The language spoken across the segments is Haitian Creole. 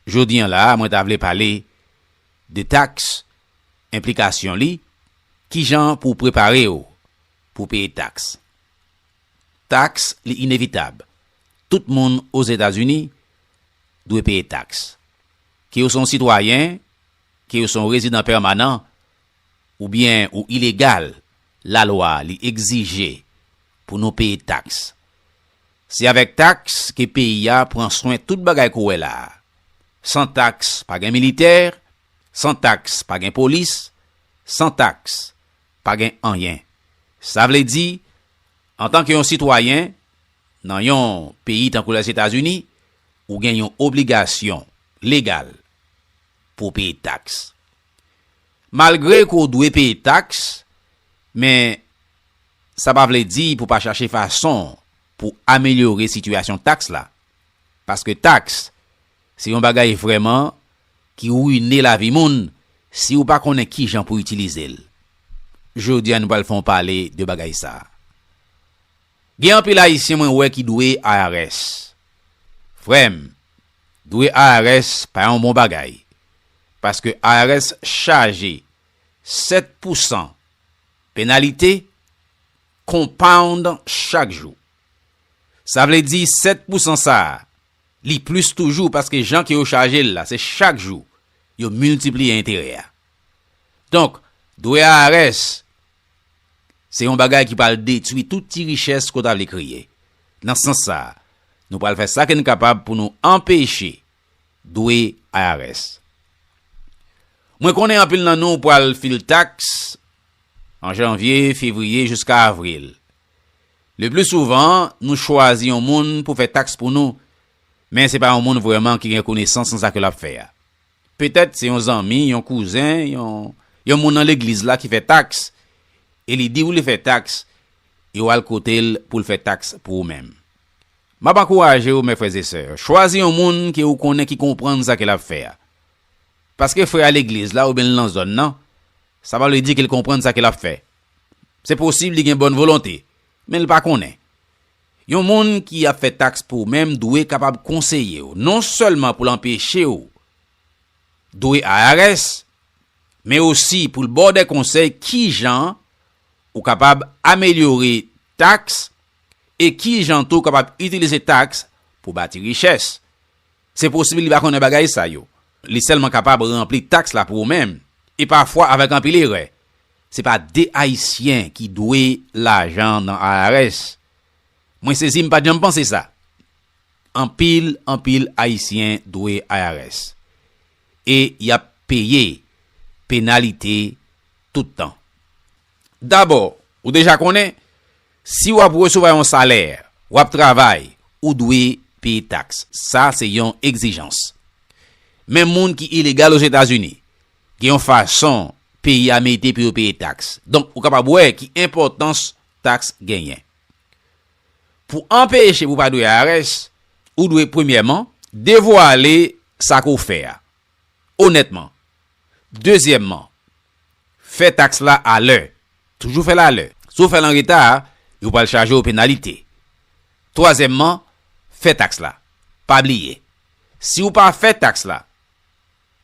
Jodi an la a mwen ta vle pale de tax, enplikasyon li, kijan pou w prepare w pou w peye tax. Tax li inevitab, tout moun Ozetazini dwe peye tax. Ke w se yon sitwayen, ke w se yon rezidan pèmanan, oubyen ou ilegal, lalwa li egzije pou nou peye tax. Se avèk taks ke peyi a pran swen tout bagay kou wè la a. San taks pa gen militè, san taks pa gen polis, san taks pa gen anyen. Sa vle di, antan ke yon sitwayen nan yon peyi tankou Lèzetazini, ou gen yon obligasyon legal pou w peye taks. Malgre ke w dwe peye taks, men sa pa vle di pou w pa chache fason pou w amelyore sitiyasyon taks la. Paske taks se yon bagay vrèman ki rwine lavi moun si w pa konnen kijan pou itilize l. Jodi a nou pral fè yon pale de bagay sa. Gen anpil Ayisyen mwen wè ki dwe IRS. Frè m, Dwe IRS pa yon bon bagay paske IRS chaje 7 pousan penalite compound chak jou. Sa vle di 7 pousan sa li plis toujou paske jan ke yo chaje l la se chak jou yo miltipliye enterè a. Donk dwe IRS Se yon bagay ki pral detwi tout ti richès ke w ta vle kreye. Nan sans sa a, nou pral fè sa ke n kapab pou nou anpeche dwe IRS. Mwen konnen anpil nan nou pral file taks an janvye, fevriye jiska avril. Lepli souvan, nou chwazi yon moun pou fè taks pou nou, men se pa yon moun vrèman ki gen konesans nan sa ke l ap fè a. Petèt se yon zanmi, yon kouzen, yon yon moun nan legliz la ki fè tax e li di ou li fè tax e ou al kote l pou l fè tax pou ou menm. M ap ankouraje ou mè frè e sè, chwazi yon moun ke ou konnen ki konprann sa ke l ap fè a. Paske frè a legliz la oubyen l nan zòn nan, sa pa vle di ke l konprann sa ke l ap fè. Se posib li gen bòn volonte, men l pa konnen. Yon moun ki ap fè taks pou ou menm dwe kapab konseye ou non sèlman pou l anpeche ou dwe IRS, men osi pou l ba w dè konsèy kijan ou kapab amelyore taks e kijan tou w kapab itilize taks pou w bati richès. Se posib li pa konnen bagay sa yo. Li sèlman kapab ranpli taks la pou ou menm, e pafwa avèk anpil erè. Se pa de Ayisyen ki dwe lajan nan IRS. Mwen sezi m pa t janm panse sa. Anpil, anpil Ayisyen dwe IRS. E y ap peye penalite tout tan. Dabò, ou deja konnen, Si w ap resevwa yon salè, w ap travay, ou dwe peye taks. Sa se yon egzijans. Men moun ki ilegal Ozetazini, gen yon fason peyi a mete pou yo peye taks. Donk, ou kapab wè ki enpòtans taks genyen. Pou anpeche pou w pa dwe IRS, ou dwe premyèman devwale sa ke w fè a. Onètman, Dezyèmman, fè taks la alè. Toujou fè l alè. Si w fè l an reta, yo pral chaje w penalite. Twazyèmman, fè taks la. Pa bliye, si w pa fè taks la,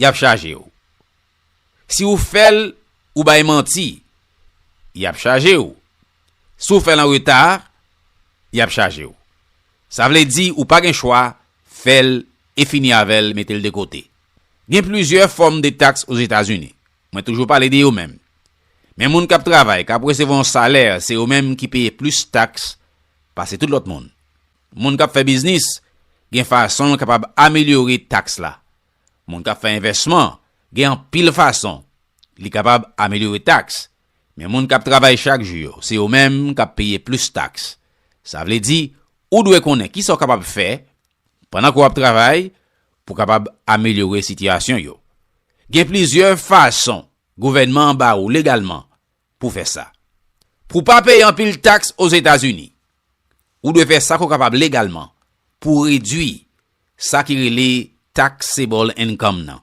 y ap chaje w. Si w fè l, ou bay manti, y ap chaje w. Si w fè l an reta, y ap chaje w. Sa vle di ou pa gen chwa, fè l e fini avè l, mete l de kote. Gen plizyè fòm de taks Ozetazini. Mwen toujou pale de yo menm. Men moun kap travay, kap resevwa yon salè, se yo menm ki peye plis taks pase tout lòt moun. Moun kap fè biznis, gen fason yo kapab amelyore taks la. Moun kap fè envèsman, gen anpil fason li kapab amelyore taks. Men moun kap travay chak jou yo, se yo menm kap peye plis taks. Sa vle di, ou dwe konnen kisa w kapab fè Pandan ke w ap travay pou w kapab amelyore sitiyasyon yo, gen plizyè fason gouvènman an ba ou legalman pou w fè sa. Pou w pa peye anpil taks Ozetazini, ou dwe fè sa ke w kapab legalman pou w redui sa ki rele taxable income nan.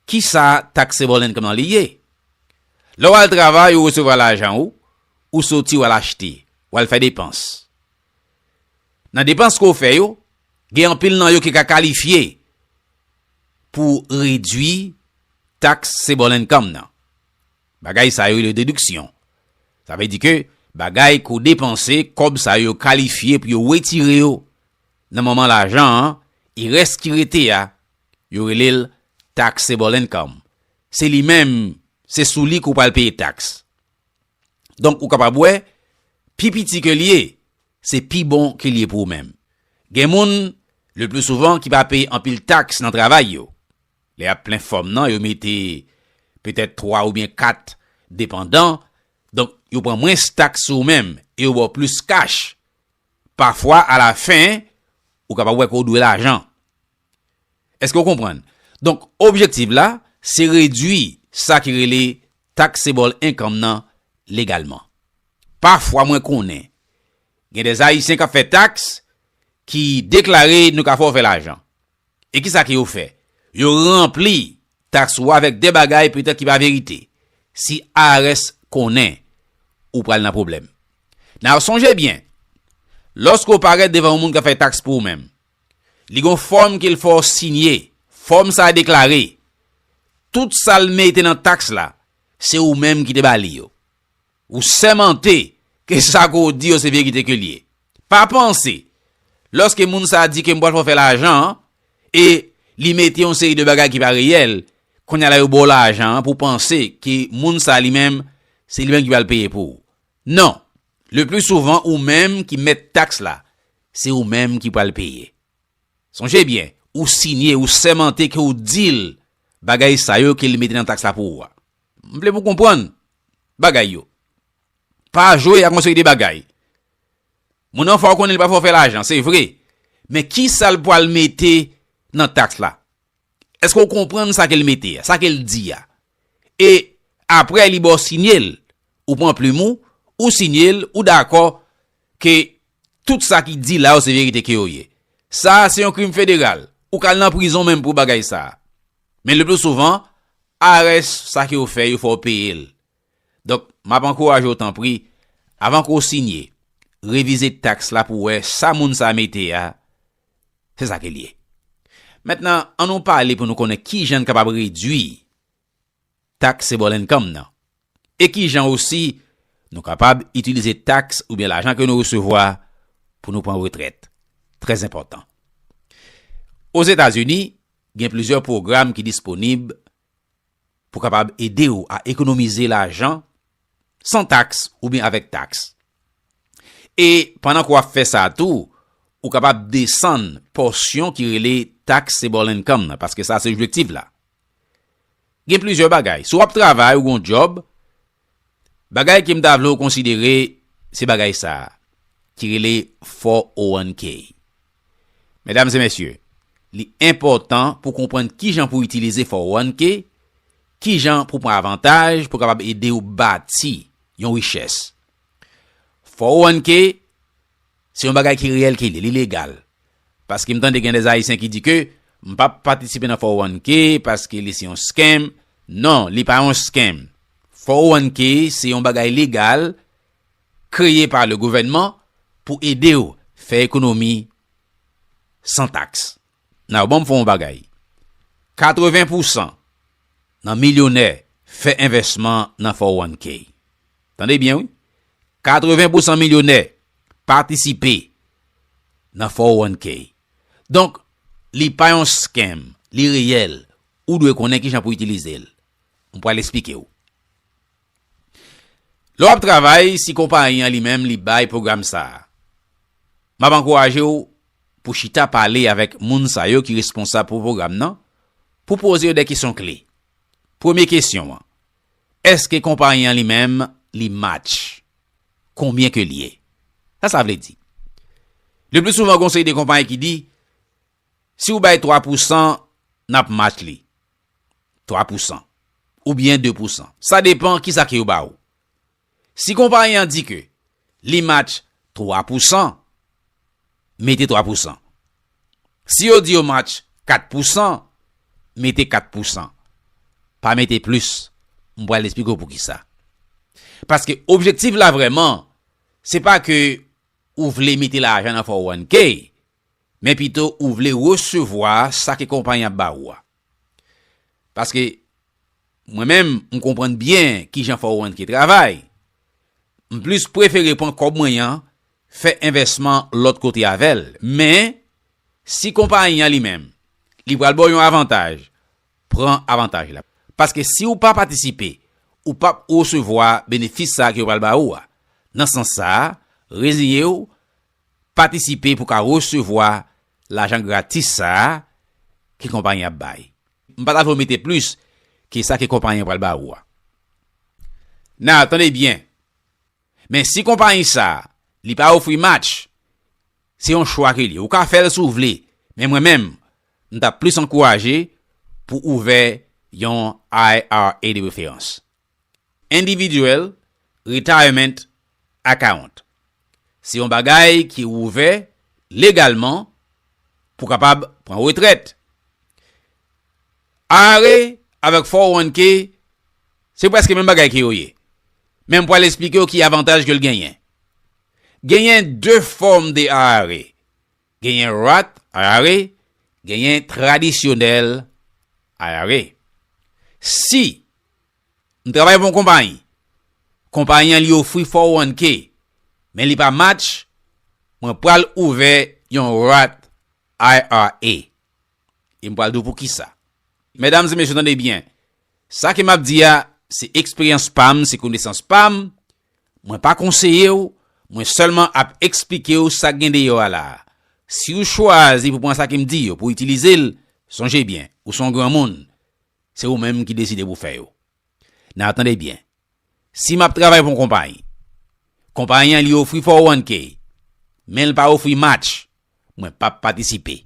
Kisa taxable income nan li ye? Lè w al travay ou resevwa lajan ou, ou soti w al achte, w al fè depans. Nan depans ke w fè yo, gen anpil nan yo ki ka kalifye pou redwi tax sebol income nan. Bagay sa yo rele deduction. Sa vle di ke bagay ke w depanse, kob sa yo kalifye pou yo retire yo nan moman lajan an, e res ki rete a, yo rele l tax sebol income. Se li menm, se sou li ke w pral peye tax. Donk ou kapab wè, pi piti ke l ye, se pi bon ke l ye pou ou menm. Gen moun, le pli souvan, ki pa peye anpil taks nan travay yo. Lè y ap plen fòm nan, yo mete petèt twa oubyen kat depandan, donk yo pran mwens taks sou ou menm e yo ba w plis kach. Pafwa, alafen, ou kapab wè ke w dwe lajan. Èske w konprann? Donk, objektiv la, se redui sa ki rele taxable income nan legalman. Pafwa mwen konnen gen des Ayisyen k ap fè taks ki deklare nou ka fè w fè lajan. E kisa ke yo fè? Yo ranpli taks ou avèk de bagay petèt ki pa verite. Si IRS konnen, ou pral nan pwoblèm. Now, sonje byen, lòske ou parèt devan yon moun k ap fè taks pou ou menm, Li gon fòm ke l fè w sinye. Fòm sa a deklare, Tout sa l mete nan taks la, se ou menm ki te ba li yo. Ou sèmante ke sa ke w di yo se verite ke l ye. Pa panse, lòske moun sa a di ke m pral fè w fè lajan an, e li mete yon seri de bagay ki pa reyèl, kounye a la yo ba w lajan an pou w panse ke moun sa a li menm, se li menm ki pral peye pou ou. Non, le pli souvan ou menm ki mèt taks la, Se ou menm ki pral peye. Sonje byen, ou sinye, ou sèmante ke ou di l bagay sa yo ke li mete nan taks la pou ou a. M vle pou konprann bagay yo. Pa jwe ak yon seri de bagay. Moun nan fè w konnen li pa fè w fè lajan, se vre. Men kisa l pral mete nan taks la? Eske ou konprann sa ke l mete a, sa ke l di a? E apre li ba w sinye l, ou pran plim ou, ou sinye l, ou dakò ke tout sa ki di la yo se verite ke yo ye. Sa a se yon krim federal. Ou ka al nan prizon menm pou bagay sa a. Men le pli souvan, arès sa ke yo fè yo fè w peye l. Donk, m ap ankouraje w tanpri, avan ke w sinye, revize taks la pou w wè sa moun sa a mete a, se sa ke l ye. Mentnan, an nou pale pou nou konnen ki jan n kapab redui taks sebòl ennkòm nan, e ki jan osi nou kapab itilize taks oubyen lajan ke nou resevwa pou nou pran retrèt. Trèzenpòtan. Ozetazini, gen plizyè pwogram ki disponib pou kapab ede ou a ekonomize lajan san taks oubyen avèk taks. E pandan ke w ap fè sa tou, ou kapab desann pòsyon ki rele taxable income nan, paske sa se objektif la. Gen plizyè bagay. Si w ap travay, ou gen yon djòb, Bagay ke m ta vle w konsidere se bagay sa a ki rele 401K. Medam e mesye, li enpòtan pou konprann kijan pou itilize 401K, kijan pou pran avantaj pou kapab ede w bati yon richès. 401K Se yon bagay ki reyèl ki li, li legal. Paske m tande gen des Ayisyen ki di ke m pa p patisipe nan 401K paske li se yon scam. Non, li pa yon scam. 401K se yon bagay legal kreye pa le gouvènman pou ede w fè ekonomi san taks. Now, banm fè yon bagay. 80 pousan nan milyonè fè envèsman nan 401K. Tande byen wi, 80 pousan milyonè patisipe nan 401K. Donk, li pa yon scam, li reyèl. Ou dwe konnen kijan pou itilize l. Mwen pral esplike ou. Lè w ap travay, si konpayi an li menm li bay pwogram sa a, m ap ankouraje w pou chita pale avèk moun sa yo ki responsab pou pwogram nan, pou poze yo de kesyon kle. Premye kesyon an, Eske konpayi an li menm li match? Konbyen ke li ye? Sa sa vle di? Le pli souvan gon seri de konpayi ki di, si ou bay 3 pou san, nap match li. 3 pou san. Oubyen 2 pou san. Sa depan kisa ke yo ba ou. Si konpayi an di ke li match 3 pou san, mete 3 pou san. Si yo di yo match 4 pou san, mete 4 pou san. Pa mete plis. M pral esplike w poukisa. Paske objektif la vrèman, se pa ke ou vle mete lajan nan 401K, men pito ou vle resevwa sa ke konpayi an ap ba ou a. Paske, mwen menm, m konprann byen ki jan fò ou annke travay. M plis prefere pran kòb mwen an, fè envèsman lòt kote avè l. Men, si konpayi an li menm, li pral ba w yon avantaj, pran avantaj la. Paske si ou pa patisipe, ou p ap resevwa benefis sa a ke yo pral ba ou a. Nan sans sa a, reziye w, Patisipe pou ka resevwa lajan gratis sa a ke konpayi an ap bay. M pa ta vle w mete plis ke sa ke konpayi an pral ba ou a. Now, tande byen, men si konpayi sa a li pa ofri match, se yon chwa ke li. Ou ka fè l si w vle, men mwen menm, m ta plis ankouraje pou ouvè yon IRA de referans. Individual Retirement Account se yon bagay ki ouvè legalman pou kapab pran retrèt. IRA avèk 401K se prèske menm bagay ke yo ye, men m pwal esplike w ki avantaj ke l genyen. Genyen 2 fòm de IRA. Genyen Roth IRA, genyen tradisyonèl IRA. Si m travay pou yon konpayi, konpayi an li ofri 401K, men li pa match, mwen pral ouvè yon Roth IRA. E m pral di w poukisa. Medam e mesye tande byen, sa ke m ap di a, se eksperyans pa m, se konesans pa m, Mwen pa konseye w, mwen sèlman ap eksplike w sa k gen deyò a la a. Si w chwazi pou pran sa ke m di yo pou w itilize l, sonje byen, ou se yon granmoun, se ou menm ki deside pou w fè yo. Nan, tande byen, si m ap travay pou yon konpayi, konpayi an li ofri 401K, men l pa ofri match, mwen p ap patisipe.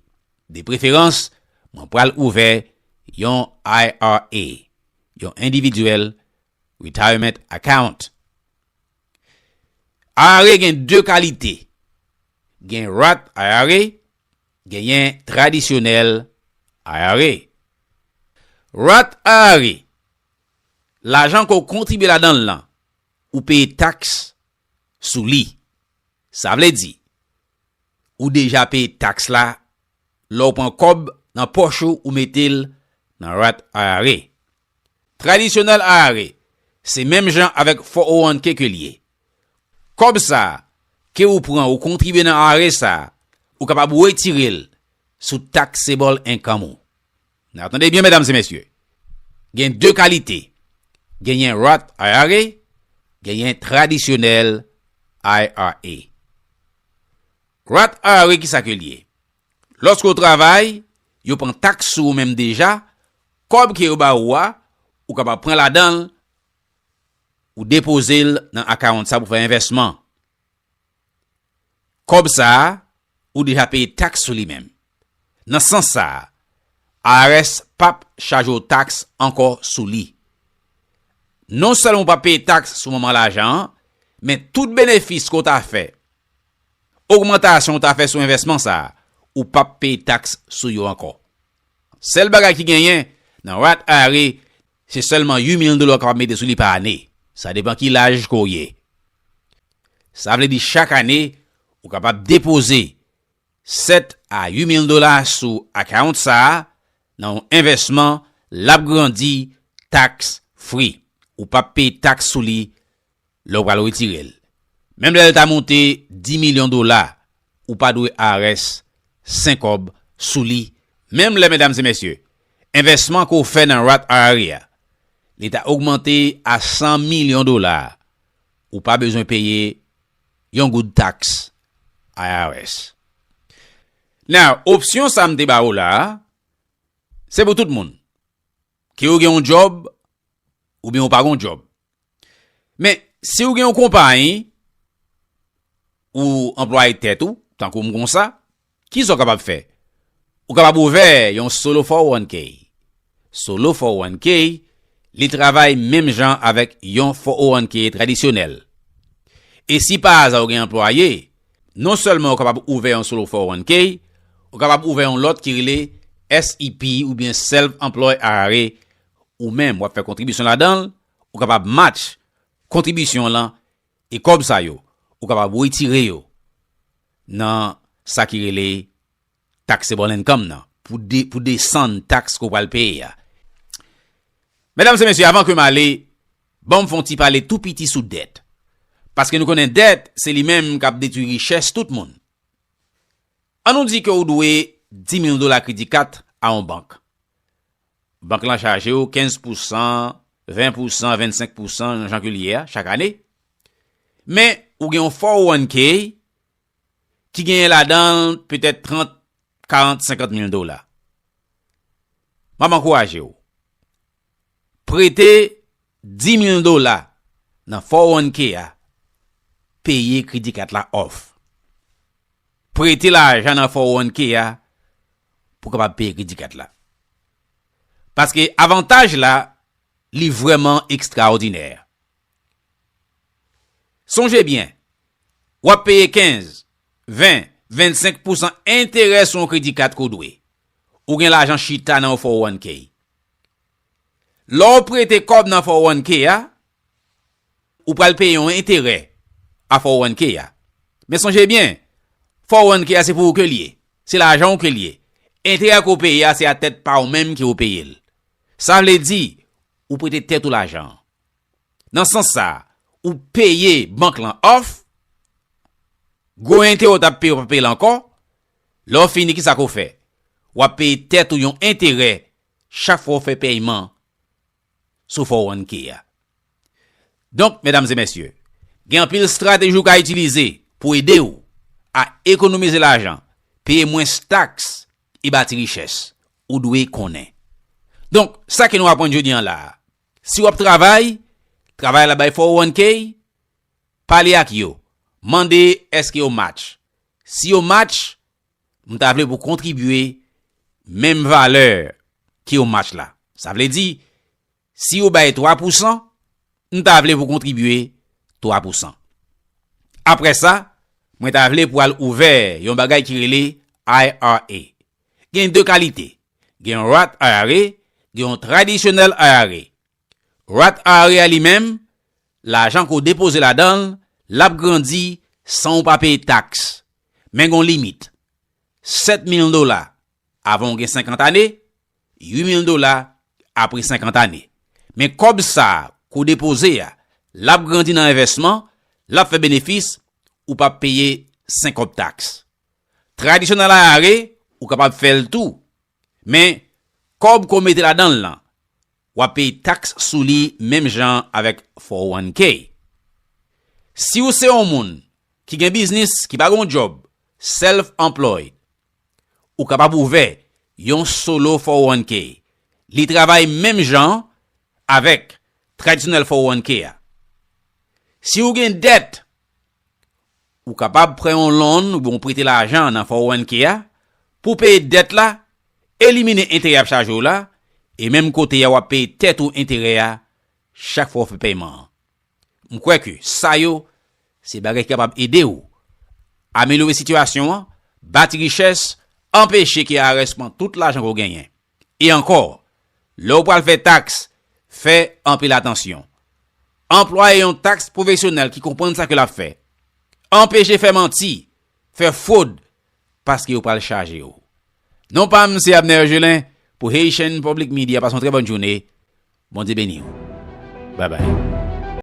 De preferans, mwen pral ouvè yon IRA, yon endividyèl Retirement Account IRA gen 2 kalite, gen Roth IRA, genyen tradisyonèl IRA. Roth IRA, lajan ke w kontribye ladan l lan, ou peye taks sou li. Sa vle di, ou deja peye taks la lè w pran kòb nan pòch ou, ou mete l nan Roth IRA. Traditional IRA se menm jan avèk 401k ke li ye. Kòb sa a ke ou pran ou kontribye nan IRA sa a, ou kapab wetire l sou taxable income ou. Nan tande byen medam se mesye, gen 2 kalite, genyen Roth IRA, genyen tradisyonèl IRA. Roth IRA kisa ke li ye? Lòske ou travay, yo pran taks sou ou menm deja, kòb ke yo ba ou a, ou kapab pran ladan l, ou depoze l nan akawont sa pou fè envèsman. Kòb sa a, ou deja peye taks sou li menm. Nan sans sa a, IRS pap chaje ou taks ankò sou li. Non sèlman ou pap peye taks sou moman lajan an, men tout benefis ke ou ta fè, Ogmantasyon ou ta fè sou envèsman sa a, ou p ap peye taks sou yo ankò. Sèl bagay ki genyen, nan Roth IRA, se sèlman 8 mil dola w kapab mete sou li pa ane. Sa depan ki laj ke w ye. Sa vle di chak ane, ou kapab depoze 7 a 8 mil dola sou account sa a, nan yon envèsman, l ap grandi tax free. Ou p ap peye taks sou li Lè ou pral retire l. Menm lè l ta monte 10 milyon dola, ou pa dwe IRS sen kòb sou li menm lè medam e mesye, envèsman ke w fè nan Roth IRA a, li ta ogmante a 100 milyon dola, ou pa bezwen peye yon goud taks IRS. Now, opsyon sa m te ba ou la a, se pou tout moun. Ke ou gen yon djòb, oubyen ou pa gen yon djòb. Men, si ou gen yon konpayi, ou anplwaye tèt ou, tankou m konsa, ki sa ou kapab fè? Ou kapab ouvè yon solo 401k. Solo 401k, li travay menm jan avèk yon 401k tradisyonèl. E si pa aza ou gen anplwaye, Non sèlman ou kapab ouvè yon solo 401k, ou kapab ouvè yon lòt ki rele SEP oubyen Self Employed IRA, ou menm wap fè kontribisyon ladanl, ou kapab match kontribisyon w lan e kòb sa yo ou kapab wetire yo nan sa ki rele Taxable income nan pou desann taks ke w pral peye a. Medam e mesye, avan ke m ale, ban m fè yon ti pale tou piti sou dèt. Paske nou konnen dèt, se li menm k ap detwi richès tout moun. An nou di ke ou dwe 10,000 dola kredi kat a yon bank. Bank lan chaje ou 15 pou san, 20 pou san, 25 pou san, jan ke li ye a, chak ane. Men, ou gen yon 401k ki genyen ladan l petèt 30, 40, 50 mil dola. M ap ankouraje w. Prete 10 mil dola nan 401K a, peye kredi kat la off. Prete lajan nan 401K a pou kapab peye kredi kat la. Paske avantaj la, li vreman ekstraodinè. Sonje byen, w ap peye 15, 20, 25 pousan enterè sou yon kredi kat ke w dwe. Ou gen lajan chita nan yon 401k. Lè w prete kòb nan 401k a, ou pral peye yon enterè a 401k a. Men sonje byen, 401k a se pou ou ke li ye. Se lajan w ke li ye. Enterè ke w peye a se a tèt pa w menm ke w peye l. Sa vle di, ou prete tèt ou lajan an. Nan sans sa, ou peye bank lan òf, gwo enterè ou t ap peye ou pa peye l ankò, lè ou fini kisa ke ou fè? Ou ap peye tèt ou yon enterè chak fwa ou fè pèyman sou 401K a. Donk, medam e mesye, gen anpil estrateji ou ka itilize pou ede ou a ekonomize lajan, peye mwens taks e bati richès. Ou dwe konnen. Donk, sa ke nou aprann jodi an la a, Si w ap travay, travay la bay 401k, pale ak yo. Mande èske yo match. Si yo match, m ta vle pou kontribye menm valè ke yo match la. Sa vle di, si yo bay 3 pousan, m ta vle pou kontribye 3 pousan. Apre sa, mwen ta vle pou al ouvè yon bagay ki rele IRA. Gen 2 kalite, Gen yon Roth IRA, gen yon tradisyonèl IRA. Roth IRA a li menm, lajan ke w depoze ladan l, l ap grandi san ou pa peye taks. Men gen yon limit, 7 mil dola avan ou gen 50 ane, 8 mil dola apre 50 ane. Men kòb sa a ke w depoze a, l ap grandi nan envèsman, l ap fè benefis, ou p ap peye senkòb taks. Tradisyon nan Laare ou kapab fè l tou, men kòb ke w mete ladan l lan, w ap peye taks sou li menm jan avèk 401k. Si w se yon moun ki gen biznis ki pa gen yon djòb, self employed, ou kapab ouvè yon solo 401k. Li travay menm jan avèk tradisyonèl 401k a. Si w gen dèt Ou kapab prè yon loan oubyen ou prete lajan nan 401k a pou w peye dèt la, elimine enterè y ap chaje w la, e menm kote a w ap peye tèt ou enterè a chak fwa w fè peman an. M kwè ke sa yo se bagay ki kapab ede w amelyore sitiyasyon an, bati richès, anpeche ke IRS pran tout lajan ke w genyen. E ankò, lè ou pral fè taks, fè anpil atansyon. Anplwaye yon taks pwofesyonèl ki konprann sa ke l ap fè. Anpeche fè manti, fè fwod, paske yo pral chaje ou. Non pa m se Abner Gelin pou Haitian Public Media. Pase yon trè bòn joune. Bondye beni ou. Bye bye.